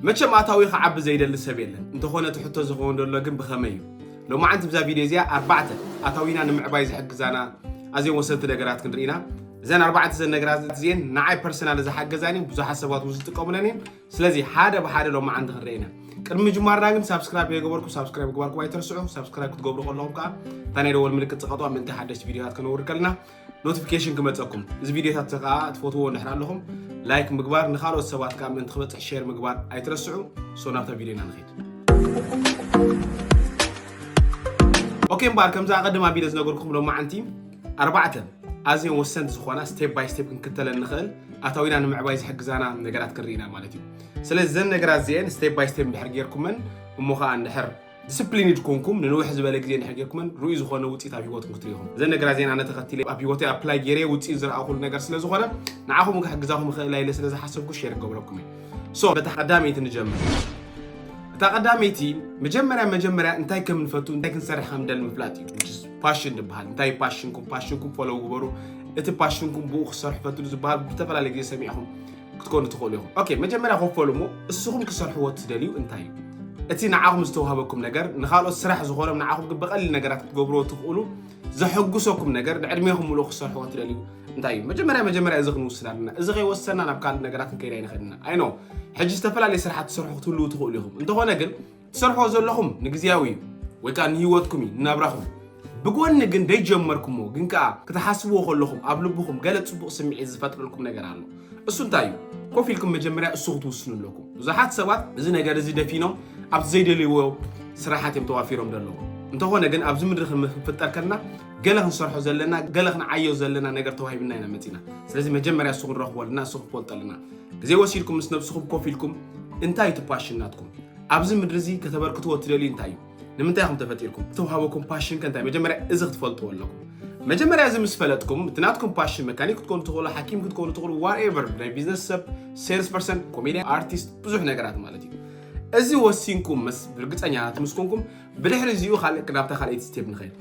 መቸም ኣታዊ ክዓቢ ዘይደሊ ሰብ የለን እንተኾነ እቲ ሕቶ ዝኸውን ዘሎ ግን ብኸመይ እዩ ሎማዓንቲ ብዛ ቪድዮ እዚኣ ኣርባዕተ ኣታዊና ንምዕባይ ዝሕግዛና ኣዝዮም ወሰንቲ ነገራት ክንርኢና እዘን ኣርባዕተ ዘን ነገራት እዚኤን ንዓይ ፐርሰናል ዝሓገዛን እየን ብዙሓት ሰባት እውን ዝጥቀሙለን እየን ስለዚ ሓደ ብሓደ ሎማዓንቲ ክንርኢና ቅድሚ ምጅማርና ግን ሳብስክራይብ የገበርኩ ሳብስክራይብ ምግባርኩም ኣይትርስዑ ሳብስክራይብ ክትገብሩ ከለኹም ከዓ እታ ናይ ደወል ምልክት ፅቐጥዋ ምእንቲ ሓደሽቲ ቪድዮታት ከነውርድ ከለና ኖቲፊኬሽን ክመፀኩም እዚ ቪዲዮታት ከዓ ትፈትዎ እንድሕር ኣለኹም ላይክ ምግባር ንካልኦት ሰባት ከዓ ምእንቲ ክበፅሕ ሼር ምግባር ኣይትረስዑ ሶ ናብታ ቪዲዮና ንኸይድ ኦኬ እምበኣር ከምዚ ኣቐድም ኣቢለ ዝነገርኩም ሎማዓንቲ ኣርባዕተ ኣዝዮም ወሰንቲ ዝኾና ስቴፕ ባይ ስቴፕ ክንክተለን ንኽእል ኣታዊና ንምዕባይ ዝሕግዛና ነገራት ክንርኢና ማለት እዩ ስለዚ ዘን ነገራት እዚአን ስቴፕ ባይ ስቴፕ እንድሕር ጌርኩመን እሞ ከዓ እንድሕር ዲስፕሊንድ ኮንኩም ንንውሕ ዝበለ ግዜ እንድሕር ጌርኩመን ርኡይ ዝኾነ ውፅኢት ኣብ ሂወትኩም ክትርኢ ኢኹም እዘን ነገራት እዚአን ኣነ ተኸቲለ ኣብ ሂወተይ ኣፕላይ ጌረ ውፅኢት ዝረኣኹሉ ነገር ስለ ዝኾነ ንዓኹም እውን ክሕግዛኹም ይኽእል ኢለ ስለ ዝሓሰብኩ ሼር ክገብረኩም እዩ ሶ በታ ቀዳመይቲ ንጀምር እታ ቀዳመይቲ መጀመርያ መጀመርያ እንታይ ከም ንፈቱ እንታይ ክንሰርሕ ከም ንደሊ ምፍላጥ እዩ ፓሽን ዝበሃል እንታይ ፓሽንኩም ፓሽንኩም ፎሎው ግበሩ እቲ ፓሽንኩም ብኡ ክሰርሑ ፈትሉ ዝበሃል ብዝተፈላለየ ግዜ ሰሚዕኹም ክትኮኑ ትኽእሉ ኢኹም። ኦኬ መጀመርያ ክፈሉ እሞ እስኹም ክሰርሕዎ እትደልዩ እንታይ እዩ? እቲ ንዓኹም ዝተዋህበኩም ነገር ንኻልኦት ስራሕ ዝኾኖም ንዓኹም ግን ብቐሊል ነገራት ክትገብርዎ ትኽእሉ ዘሐጉሰኩም ነገር ንዕድሜኹም ምሉእ ክሰርሕዎ ትደልዩ እንታይ እዩ መጀመርያ መጀመርያ እዚ ክንውስድ ኣለና እዚ ከይወሰና ናብ ካልእ ነገራት ክንከይድ ኣይንኽእል ኢና ኣይኖ ሕጂ ዝተፈላለዩ ስራሓት ትሰርሑ ክትህልው ትኽእሉ ኢኹም እንተኾነ ግን ትሰርሖ ዘለኹም ንግዜያዊ እዩ ወይ ከዓ ንህይወትኩም እዩ ንናብራኹም ብጎኒ ግን ደይጀመርኩምዎ ግን ከዓ ክትሓስብዎ ከለኹም ኣብ ልብኹም ገለ ፅቡቕ ስምዒት ዝፈጥረልኩም ነገር ኣሎ እሱ እንታይ እዩ ኮፍ ኢልኩም መጀመርያ እሱ ክትውስኑ ኣለኩም ብዙሓት ሰባት እዚ ነገር እዚ ደፊኖም ኣብቲ ዘይደልይዎ ስራሓት እዮም ተዋፊሮም ዘለዉ እንተኾነ ግን ኣብዚ ምድሪ ክንፍጠር ከልና ገለ ክንሰርሖ ዘለና ገለ ክንዓዮ ዘለና ነገር ተዋሂብና ኢና መፂና ስለዚ መጀመርያ እሱ ክንረኽቦ ኣለና እሱ ክፈልጦ ኣለና ግዜ ወሲድኩም ምስ ነብስኹም ኮፍ ኢልኩም እንታይ እዩ ትፓሽን ናትኩም ኣብዚ ምድሪ እዚ ከተበርክትዎ እትደልዩ እንታይ እዩ? ንምንታይ ኢኹም ተፈጢርኩም? እተውሃበኩም ፓሽን ከ እንታይ? መጀመርያ እዚ ክትፈልጥዎ ኣለኩም። መጀመርያ እዚ ምስ ፈለጥኩም እቲ ናትኩም ፓሽን መካኒክ ክትኮኑ ትኽእሉ፣ ሓኪም ክትኮኑ ትኽእሉ፣ ዋትኤቨር ናይ ቢዝነስ ሰብ፣ ሴልስ ፐርሰን፣ ኮሜድያን፣ ኣርቲስት ብዙሕ ነገራት ማለት እዩ። እዚ ወሲንኩም ምስ ብርግፀኛታት ምስ ኮንኩም ብድሕሪ እዚኡ ካልእ ናብታ ካልኣይቲ ስቴፕ ንኸድ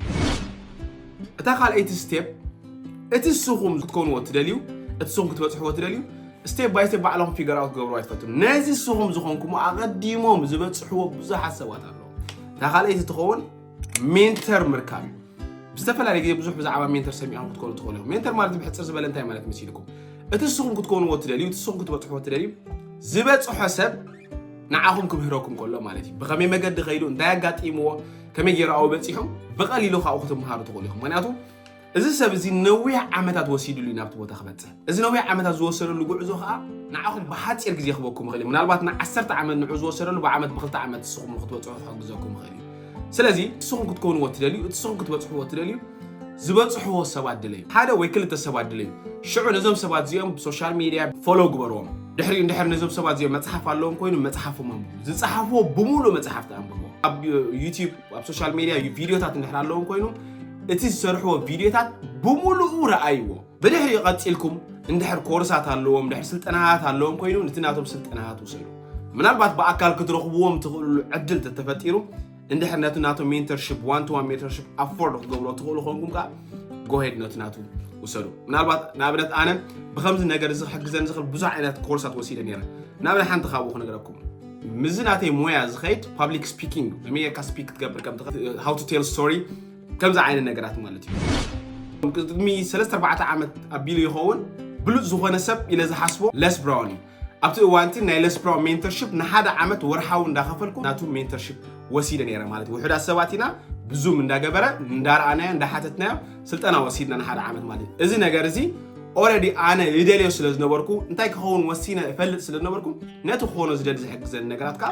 እታ ካልኣይቲ ስቴፕ እቲ ንስኹም ክትኮንዎ ትደልዩ እቲ ንስኹም ክትበፅሕዎ ትደልዩ ስቴፕ ባይ ስቴፕ ባዕሎም ፊገር ኣውት ክገብርዎ ኣይትፈትኑ ነዚ ንስኹም ዝኾንኩሞ ኣቐዲሞም ዝበፅሕዎ ብዙሓት ሰባት ኣለዉ እታ ካልኣይቲ ትኸውን ሜንተር ምርካብ እዩ ብዝተፈላለየ ግዜ ብዙሕ ብዛዕባ ሜንተር ሰሚዖም ክትኮኑ ትኽእሉ እዮም ሜንተር ማለት ብሕፅር ዝበለ እንታይ ማለት መሲልኩም እቲ ንስኹም ክትኮንዎ ትደልዩ እቲ ንስኹም ክትበፅሕዎ ትደልዩ ዝበፅሖ ሰብ ንዓኹም ክምህረኩም ከሎ ማለት እዩ ብኸመይ መገዲ ከይዱ እንታይ ኣጋጢምዎ ከመይ ገይሩ ኣብኡ በፂሑ ብቐሊሉ ካብኡ ክትምሃሩ ትኽእሉ ኢኹም ምክንያቱ እዚ ሰብ እዚ ነዊሕ ዓመታት ወሲድሉ እዩ ናብቲ ቦታ ክበፅሕ እዚ ነዊሕ ዓመታት ዝወሰደሉ ጉዕዞ ከዓ ንዓኹም ብሓፂር ግዜ ክበኩም ይኽእል እዩ ምናልባት ንዓሰርተ ዓመት ንዑ ዝወሰደሉ ብዓመት ብክልተ ዓመት ንስኹም ንክትበፅሑ ክሕግዘኩም ይኽእል እዩ ስለዚ ንስኹም ክትኮንዎ እትደልዩ እቲ ንስኹም ክትበጽሕዎ እትደልዩ ዝበጽሕዎ ሰባት ድለዩ ሓደ ወይ ክልተ ሰባት ድለዩ ሽዑ ነዞም ሰባት እዚኦም ብሶሻል ሚድያ ፎሎ ግበርዎም ድሕሪኡ እንድሕር ነዞም ሰባት እዚኦም መጽሓፍ ኣለዎም ኮይኑ መጽሓፎም ኣንብቡ ዝጸሓፍዎ ብምሉእ መጽሓፍቲ ኣንብቡ ኣብ ዩቲብ ኣብ ሶሻል ሚድያ ቪድዮታት እንድሕር ኣለዎም ኮይኑ እቲ ዝሰርሕዎ ቪድዮታት ብምሉኡ ረኣይዎ ብድሕሪኡ ቀጺልኩም እንድሕር ኮርሳት ኣለዎም ድሕር ስልጠናታት ኣለዎም ኮይኑ ነቲ ናቶም ስልጠናታት ውሰዱ ምናልባት ብኣካል ክትረኽብዎም ትኽእልሉ ዕድል ተተፈጢሩ እንድሕር ነቲ ናቶም ሜንተርሽፕ ዋን ቱ ዋን ሜንተርሽፕ ኣፎርድ ክትገብሮ ትኽእሉ ኮንኩም ከዓ ጎሄድ ነቲ ናቱ ውሰዱ ምናልባት ንኣብነት ኣነ ብከምዚ ነገር እዚ ክሕግዘኒ ዝኽእል ብዙሕ ዓይነት ኮርሳት ወሲደ ነረ ንኣብነት ሓንቲ ካብኡ ክነግረኩም ምዚ ናተይ ሞያ ዝኸይድ ፓብሊክ ስፒኪንግ መሜርካ ስፒክ ክትገብር ከም ሃው ቱ ቴል ስቶሪ ከምዚ ዓይነት ነገራት ማለት እዩ ቅድሚ 34 ዓመት ኣቢሉ ይኸውን ብሉፅ ዝኾነ ሰብ ኢለ ዝሓስቦ ለስ ብራውን እዩ ኣብቲ እዋንቲ ናይ ለስፕራው ሜንተርሽፕ ንሓደ ዓመት ወርሓዊ እንዳኸፈልኩ ናቱ ሜንተርሽፕ ወሲደ ነይረ ማለት እዩ ውሑዳት ሰባት ኢና ብዙም እንዳገበረ እንዳረኣናዮ እንዳሓተትናዮ ስልጠና ወሲድና ንሓደ ዓመት ማለት እዩ እዚ ነገር እዚ ኦረዲ ኣነ ይደልዮ ስለ ዝነበርኩ እንታይ ክኸውን ወሲነ እፈልጥ ስለ ዝነበርኩ ነቲ ክኾኖ ዝደሊ ዝሕግዘኒ ነገራት ከዓ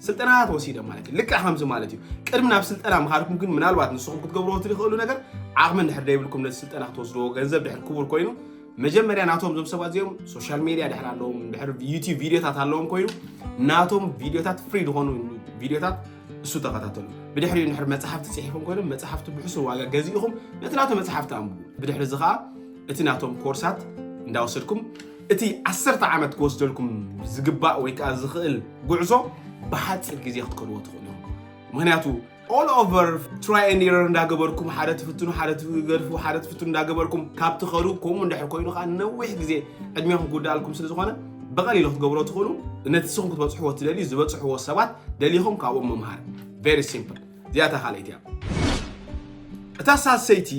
ስልጠናታት ወሲደ ማለት እዩ ልክዕ ከምዚ ማለት እዩ ቅድሚ ናብ ስልጠና ምኻድኩም ግን ምናልባት ንስኹም ክትገብርዎ ትኽእሉ ነገር ዓቕሚ እንድሕር ደይብልኩም ነቲ ስልጠና ክትወስድዎ ገንዘብ ድሕር ክቡር ኮይኑ መጀመርያ ናቶም እዞም ሰባት እዚኦም ሶሻል ሜድያ ድሕር ኣለዎም ድሕር ዩቲብ ቪድዮታት ኣለዎም ኮይኑ ናቶም ቪድዮታት ፍሪ ዝኾኑ ቪድዮታት እሱ ተኸታተሉ ብድሕሪኡ ንድሕር መፅሓፍቲ ፅሒፎም ኮይኖም መፅሓፍቲ ብሕሱር ዋጋ ገዚእኹም ነቲ ናቶ መፅሓፍቲ ኣንብቡ ብድሕሪ እዚ ከዓ እቲ ናቶም ኮርሳት እንዳወሰድኩም እቲ ዓሰርተ ዓመት ክወስደልኩም ዝግባእ ወይ ከዓ ዝኽእል ጉዕዞ ብሓፂር ግዜ ክትከድዎ ትኽእሉ ምክንያቱ ኦል ኦቨር ትራይ ኤንድ ኤረር እንዳገበርኩም ሓደ ትፍትኑ ሓደ ትገድፉ ሓደ ትፍትኑ እንዳገበርኩም ካብ ትኸዱ ከምኡ እንድሕር ኮይኑ ከዓ ነዊሕ ግዜ ዕድሜኹም ክውዳኣልኩም ስለ ዝኾነ ብቐሊሉ ክትገብሮ ትኽእሉ ነቲ ስኹም ክትበፅሕዎ ትደልዩ ዝበፅሕዎ ሰባት ደሊኹም ካብኦም ምምሃር ቨሪ ሲምፕል እዚኣታ ካልኣይቲ እያ እታ ሳሰይቲ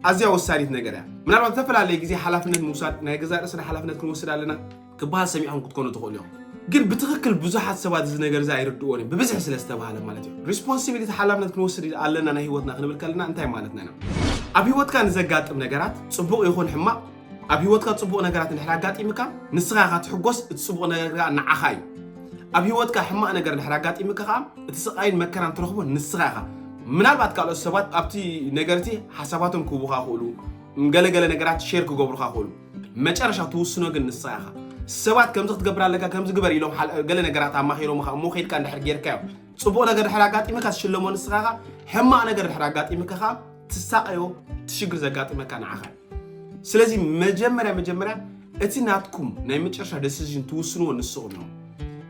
ኣዝያ ወሳኒት ነገር እያ ምናልባት ዝተፈላለየ ግዜ ሓላፍነት ምውሳድ ናይ ገዛ ርእስና ሓላፍነት ክንወስድ ኣለና ክበሃል ሰሚዕኩም ክትኮኑ ትኽእሉ ኢኹም። ግን ብትኽክል ብዙሓት ሰባት እዚ ነገር እዚ ኣይርድእዎን እዮም፣ ብብዝሒ ስለ ዝተባህለ ማለት እዩ። ሪስፖንሲቢሊቲ ሓላፍነት ክንወስድ ኣለና ናይ ህይወትና ክንብል ከለና እንታይ ማለትና ኢና? ኣብ ህይወትካ ንዘጋጥም ነገራት ጽቡቕ ይኹን ሕማቕ ኣብ ህይወትካ ጽቡቕ ነገራት እንድሕር ኣጋጢምካ ንስኻ ኢኻ ትሕጎስ፣ እቲ ጽቡቕ ነገር ከዓ ንዓኻ እዩ። ኣብ ህይወትካ ሕማቕ ነገር እንድሕር ኣጋጢምካ ከዓ እቲ ስቓይን መከራን ትረኽቦ ንስኻ ኢኻ። ምናልባት ካልኦት ሰባት ኣብቲ ነገር እቲ ሓሳባቶም ክህቡኻ ይኽእሉ፣ ገለገለ ነገራት ሼር ክገብሩኻ ይኽእሉ። መጨረሻ ትውስኖ ግን ንስኻ ኢኻ ሰባት ከምዚ ክትገብር ኣለካ ከምዚ ግበር ኢሎም ገለ ነገራት ኣማኺሮምኻ እሞ ከድካ እንድሕር ጌርካዮ ፅቡቕ ነገር ድሕር ኣጋጢምካ ትሽለሞ ንስኻ ኢኻ ሕማቕ ነገር ድሕር ኣጋጢምካ ኸ ትሳቐዮ ትሽግር ዘጋጥመካ ንዓኻ ስለዚ መጀመርያ መጀመርያ እቲ ናትኩም ናይ መጨረሻ ደሲዥን ትውስንዎ ንስኹም ኢኹም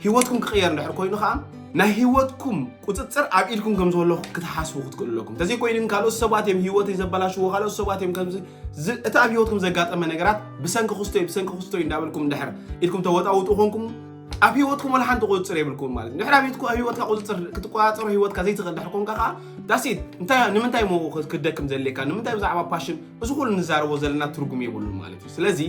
ህይወትኩም ክቕየር እንድሕር ኮይኑ ከዓ ናይ ህይወትኩም ቁፅፅር ኣብ ኢድኩም ከም ዘሎ ክትሓስቡ ክትክእሉ ኣለኩም እንተዘይኮይኑ ግን ካልኦት ሰባት እዮም ህይወተይ ዘበላሽዎ ካልኦት ሰባት እዮም ከምዚ ዝ- እቲ ኣብ ህይወትኩም ዘጋጠመ ነገራት ብሰንኪ ክስቶይ ብሰንኪ ክስቶይ እንዳበልኩም እንድሕር ኢድኩም ተወጣውጡ ኮንኩም ኣብ ህይወትኩም ወላ ሓንቲ ቁፅፅር የብልኩም ማለት እዩ ድሕሪ ኣብ ህይወትኩ- ኣብ ህይወትካ ቁፅፅር ክትቆፃፀሮ ህይወትካ ዘይትኽእል ድሕር ኮንካ ከዓ ዳሲት እንታይ ንምንታይ ሞ ክትደክም ዘድልየካ ንምንታይ ብዛዕባ ፓሽን እዚ ኩሉ ንዛረቦ ዘለና ትርጉም የብሉን ማለት እዩ ስለዚ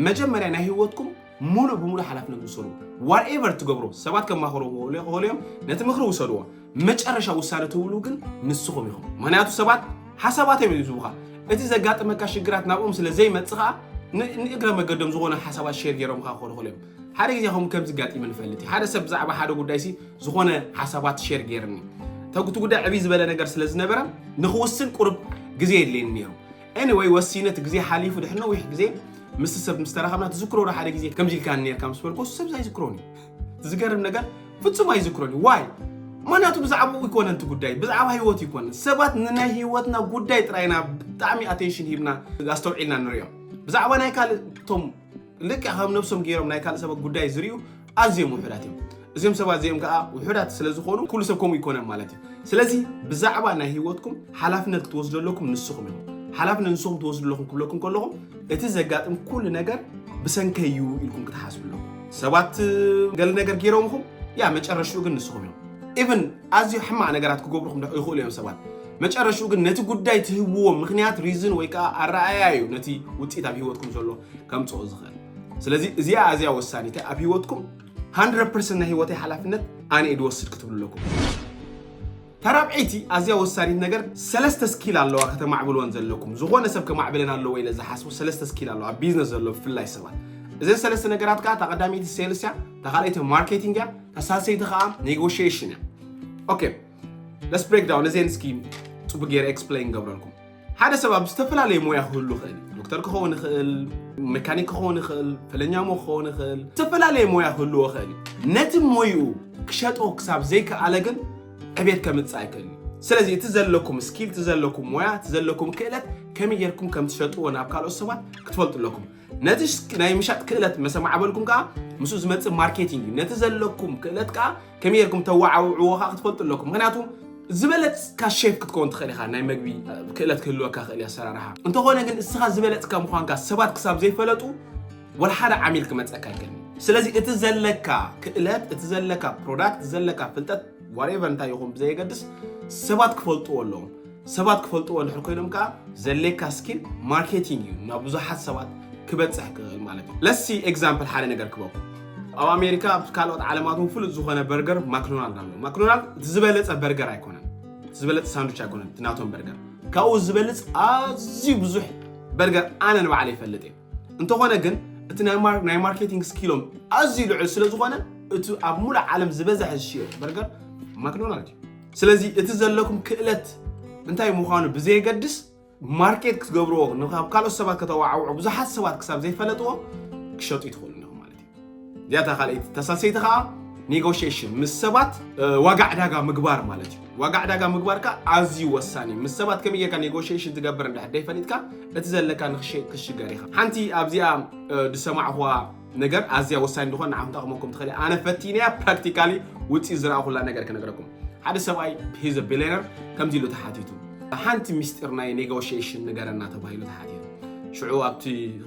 መጀመርያ ናይ ህይወትኩም ሙሉእ ብሙሉእ ሓላፍነት ውሰዱ። ዋትኤቨር ትገብሩ ሰባት ከማኽርዎ ይኽእሉ እዮም፣ ነቲ ምኽሪ ውሰድዎ። መጨረሻ ውሳነ ትብሉ ግን ንስኹም ኢኹም። ምክንያቱ ሰባት ሓሳባት እዮም ዝህቡኻ። እቲ ዘጋጥመካ ሽግራት ናብኦም ስለ ዘይመጽእ ከዓ ንእግረ መገዶም ዝኾነ ሓሳባት ሼር ገይሮም ከዓ ክኾኑ እዮም። ሓደ ግዜ ከም ከምዚ ጋጢሙ ንፈልጥ ሓደ ሰብ ብዛዕባ ሓደ ጉዳይ ሲ ዝኾነ ሓሳባት ሼር ገይርኒ ተጉቲ ጉዳይ ዕብይ ዝበለ ነገር ስለ ዝነበረ ንክውስን ቁርብ ግዜ የድልየኒ ነይሩ Anyway ወሲነ እቲ ግዜ ሓሊፉ ድሕሪ ነዊሕ ግዜ ምስ ሰብ ምስ ተራኸብና ትዝክሮ ዶ ሓደ ግዜ ከምዚ ኢልካኒ ነርካ ምስ በልኩ ሰብ ኣይዝክሮን እዩ ዝገርም ነገር ፍጹም ኣይዝክሮን እዩ ዋይ ምክንያቱ ብዛዕባኡ ይኮነን እቲ ጉዳይ ብዛዕባ ህይወት ይኮነን ሰባት ንናይ ህይወትና ጉዳይ ጥራይና ብጣዕሚ ኣቴንሽን ሂብና ኣስተውዒልና ንሪኦም ብዛዕባ ናይ ካልእ እቶም ልክዕ ከም ነብሶም ገይሮም ናይ ካልእ ሰባት ጉዳይ ዝርዩ ኣዝዮም ውሑዳት እዮም እዚኦም ሰባት እዚኦም ከዓ ውሑዳት ስለ ዝኾኑ ኩሉ ሰብ ከምኡ ይኮነን ማለት እዩ ስለዚ ብዛዕባ ናይ ህይወትኩም ሓላፍነት ክትወስዱ ኣለኩም ንስኹም ኢኹም ሓላፍነት ንስኹም ትወስዱ ኣለኹም ክብለኩም ከለኹም እቲ ዘጋጥም ኩሉ ነገር ብሰንከይ እዩ ኢልኩም ክትሓስቡ ኣለኹም ሰባት ገለ ነገር ገይሮም ኹም ያ መጨረሽኡ ግን ንስኹም እዮም ኢቨን ኣዝዩ ሕማቕ ነገራት ክገብሩኹም ይኽእሉ እዮም ሰባት። መጨረሽኡ ግን ነቲ ጉዳይ ትህብዎ ምኽንያት ሪዝን ወይ ከዓ ኣረኣያ እዩ ነቲ ውፅኢት ኣብ ሂወትኩም ዘሎ ከምፅኦ ዝኽእል። ስለዚ እዚኣ ኣዝያ ወሳኒት እያ ኣብ ሂወትኩም 100% ናይ ሂወተይ ሓላፍነት ኣነ እየ ድወስድ ክትብሉ ኣለኩም። ተራብዐይቲ ኣዝያ ወሳኒት ነገር ሰለስተ ስኪል ኣለዋ ከተማዕብልወን ዘለኩም ዝኾነ ሰብ ከማዕብለን ኣለዎ ኢለ ዝሓስቡ ሰለስተ ስኪል ኣለዋ ኣብ ቢዝነስ ዘሎ ብፍላይ ሰባት እዘን ሰለስተ ነገራት ከዓ እታ ቀዳመይቲ ሴልስ እያ እታ ካልኣይቲ ማርኬቲንግ እያ እታ ሳልሰይቲ ከዓ ኔጎሽሽን እያ ኦኬ ለስ ብሬክ ዳውን እዚ እስኪ ፅቡቅ ገይረ ኤክስፕሌን ገብረልኩም ሓደ ሰብ ኣብ ዝተፈላለየ ሞያ ክህሉ ይኽእል ዶክተር ክኸውን ይኽእል መካኒክ ክኸውን ይኽእል ፈለኛ ሞ ክኸውን ይኽእል ዝተፈላለየ ሞያ ክህልዎ ይኽእል እዩ ነቲ ሞይኡ ክሸጦ ክሳብ ዘይከኣለ ግን ዕቤት ከምፅእ ኣይክእል ስለዚ እቲ ዘለኩም ስኪል እቲ ዘለኩም ሞያ እቲ ዘለኩም ክእለት ከመይ ጌርኩም ከም ትሸጥዎ ናብ ካልኦት ሰባት ክትፈልጡ ኣለኩም ነቲ ናይ ምሻጥ ክእለት መሰ ማዕበልኩም ከዓ ምስኡ ዝመፅእ ማርኬቲንግ እዩ ነቲ ዘለኩም ክእለት ከዓ ከመይ ጌርኩም ተዋዓውዕዎ ከዓ ክትፈልጡ ኣለኩም ምክንያቱ ዝበለፅካ ሼፍ ክትከውን ትኽእል ኢኻ ናይ መግቢ ክእለት ክህልወካ ክእል እዩ ኣሰራርሓ እንተኾነ ግን እስኻ ዝበለፅካ ምዃንካ ሰባት ክሳብ ዘይፈለጡ ወላ ሓደ ዓሚል ክመፀካ ይከል ስለዚ እቲ ዘለካ ክእለት እቲ ዘለካ ፕሮዳክት ዘለካ ፍልጠት ዋሬቨር እንታይ ይኹን ብዘየገድስ ሰባት ክፈልጥዎ ኣለዎም ሰባት ክፈልጥዎ ድሕር ኮይኖም ከዓ ዘድልየካ ስኪል ማርኬቲንግ እዩ ናብ ብዙሓት ሰባት ክበፅሕ ክኽእል ማለት እዩ ለሲ ኤግዛምፕል ሓደ ነገር ክበኩ ኣብ ኣሜሪካ ኣብ ካልኦት ዓለማት እውን ፍሉጥ ዝኾነ በርገር ማክዶናልድ ኣሎ ማክዶናልድ እቲ ዝበለፀ በርገር ኣይኮነን እቲ ዝበለፀ ሳንዱች ኣይኮነን እቲ ናቶም በርገር ካብኡ ዝበልፅ ኣዝዩ ብዙሕ በርገር ኣነ ንባዕለ ይፈልጥ እየ እንተኾነ ግን እቲ ናይ ማርኬቲንግ ስኪሎም ኣዝዩ ልዑል ስለ ዝኾነ እቲ ኣብ ሙሉእ ዓለም ዝበዝሐ ዝሽየጥ በርገር ማክዶናልድ እዩ ስለዚ እቲ ዘለኩም ክእለት እንታይ ምዃኑ ብዘየገድስ ማርኬት ክትገብርዎ ካብ ካልኦት ሰባት ከተዋዓውዑ ብዙሓት ሰባት ክሳብ ዘይፈለጥዎ ክሸጡ ይትኽእሉ ኣለኹም ማለት እዩ እዚኣ እታ ካልኣይቲ ተሳሰይቲ ከዓ ኔጎሽሽን ምስ ሰባት ዋጋ ዕዳጋ ምግባር ማለት እዩ ዋጋ ዕዳጋ ምግባር ከዓ ኣዝዩ ወሳኒ እዩ ምስ ሰባት ከመይ ጌርካ ኔጎሽሽን ትገብር እንድሕር ደይፈሊጥካ እቲ ዘለካ ንክሽገር ኢኻ ሓንቲ ኣብዚኣ ዝሰማዕኹዋ ነገር ኣዝያ ወሳኝ እንደኾን ንዓኹም ጠቕመኩም ትኽእል ኣነ ፈቲነያ ፕራክቲካሊ ውፅኢት ዝረኣኹላ ነገር ክነግረኩም ሓደ ሰብኣይ ሂዘ ቢሊነር ከምዚ ኢሉ ተሓቲቱ ሓንቲ ሚስጢር ናይ ኔጎሽሽን ንገረና ተባሂሉ ተሓቲቱ ሽዑ ኣብቲ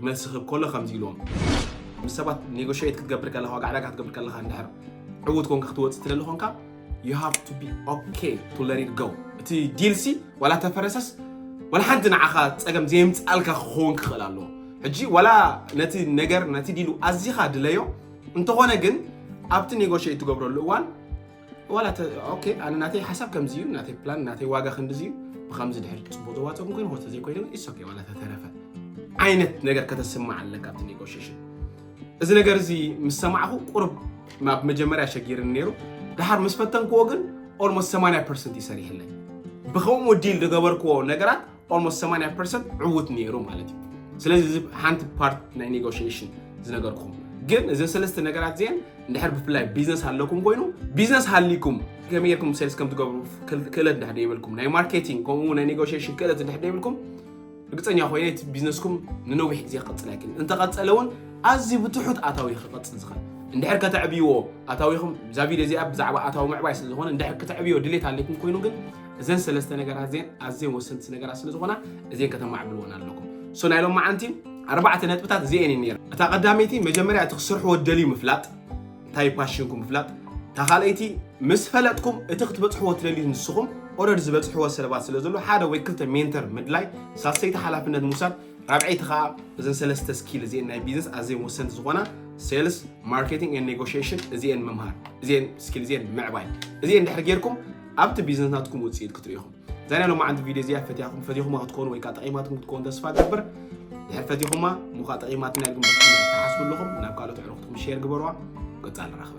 መልሲ ክብ ከሎ ከምዚ ኢልዎም ምስ ሰባት ኔጎሽየት ክትገብር ከለኻ ዋጋ ዕዳጋ ክትገብር ከለኻ እንድሕር ዕዉት ኮንካ ክትወፅእ ትደሊ ኮንካ you have to be okay to let it go እቲ ዲልሲ ዋላ ተፈረሰስ ዋላ ሓንቲ ንዓኻ ፀገም ዘየምፅኣልካ ክኸውን ክኽእል ኣለዎ ሕጂ ዋላ ነቲ ነገር ነቲ ዲሉ ኣዚኻ ድለዮ እንተኾነ ግን ኣብቲ ኔጎሽየት ትገብረሉ እዋን ዋላ ኦኬ ኣነ ናተይ ሓሳብ ከምዚ እዩ ናተይ ፕላን ናተይ ዋጋ ክንድዚ እዩ ብከምዚ ድሕር ፅቡቅ ዘዋፅኦም ኮይኑ ሆተ ዘይኮይኑ ኢስ ኦኬ ዋላ ተተረፈ ዓይነት ነገር ከተስማዕ ኣለካ ኣብቲ ኔጎሽሽን እዚ ነገር እዚ ምስ ሰማዕኹ ቁርብ ናብ መጀመርያ ሸጊርን ነይሩ ድሓር ምስ ፈተንክዎ ግን ኦልሞስት 80 ፐርሰንት ይሰሪሕለይ ብከምኡ ዲል ዝገበርክዎ ነገራት ኦልሞስት 80 ፐርሰንት ዕውት ነይሩ ማለት እዩ ስለዚ እዚ ሓንቲ ፓርት ናይ ኔጎሽሽን ዝነገርኩም ግን እዚ ሰለስተ ነገራት እዚአን እንድሕር ብፍላይ ቢዝነስ ኣለኩም ኮይኑ ቢዝነስ ሃሊኩም ከመይ ጌርኩም ሴልስ ከም ትገብሩ ክእለት እንድሕር ደይብልኩም ናይ ማርኬቲንግ ከምኡ ናይ ኔጎሽሽን ክእለት እንድሕር ደይብልኩም ርግፀኛ ኮይነ እቲ ቢዝነስኩም ንነዊሕ ግዜ ክቕፅል ኣይክልን እንተቐፀለ እውን ኣዝዩ ብትሑት ኣታዊ ክቐፅል ዝኽእል እንድሕር ከተዕብይዎ ኣታዊኹም እዛ ቪድዮ እዚኣ ብዛዕባ ኣታዊ ምዕባይ ስለ ዝኾነ እንድሕር ከተዕብዮ ድሌት ኣለኩም ኮይኑ ግን እዘን ሰለስተ ነገራት እዚን ኣዝየን ወሰንቲ ነገራት ስለ ዝኾና እዚን ከተማዕብልወን ኣለኩም ሶ ናይ ሎም መዓንቲ ኣርባዕተ ነጥብታት እዚኤን እየን ነይረን እታ ቀዳመይቲ መጀመርያ እቲ ክሰርሕዎ ደልዩ ምፍላጥ እንታይ ፓሽንኩም ምፍላጥ እታ ካልኣይቲ ምስ ፈለጥኩም እቲ ክትበፅሕዎ ትደልዩ ንስኹም ኦረድ ዝበፅሕዎ ሰለባት ስለ ዘሎ ሓደ ወይ ክልተ ሜንተር ምድላይ ሳሰይቲ ሓላፍነት ምውሳድ ራብዐይቲ ከዓ እዘን ሰለስተ ስኪል እዚኤን ናይ ቢዝነስ ኣዝየን ወሰንቲ ዝኾና ሴልስ ማርኬቲንግ ን ኔጎሽሽን እዚኤን ምምሃር እዚኤን ስኪል እዚኤን ምዕባይ እዚኤን ድሕሪ ጌርኩም ኣብቲ ቢዝነስ ናትኩም ውፅኢት ክትሪኡ ኢኹም እዛ ናይ ሎማዓንቲ ቪድዮ እዚኣ ፈትያኹም ፈትኹማ ክትኮኑ ወይ ከዓ ጠቂማትኩም ክትኮኑ ተስፋ ገብር ድሕር ፈትኹማ እሞ ከዓ ጠቂማትና ኢልኩም ትሓስቡ ኣለኹም ናብ ካልኦት ዕሩኽትኩም ሼር ግበርዋ ቀፃሊ ራኽበ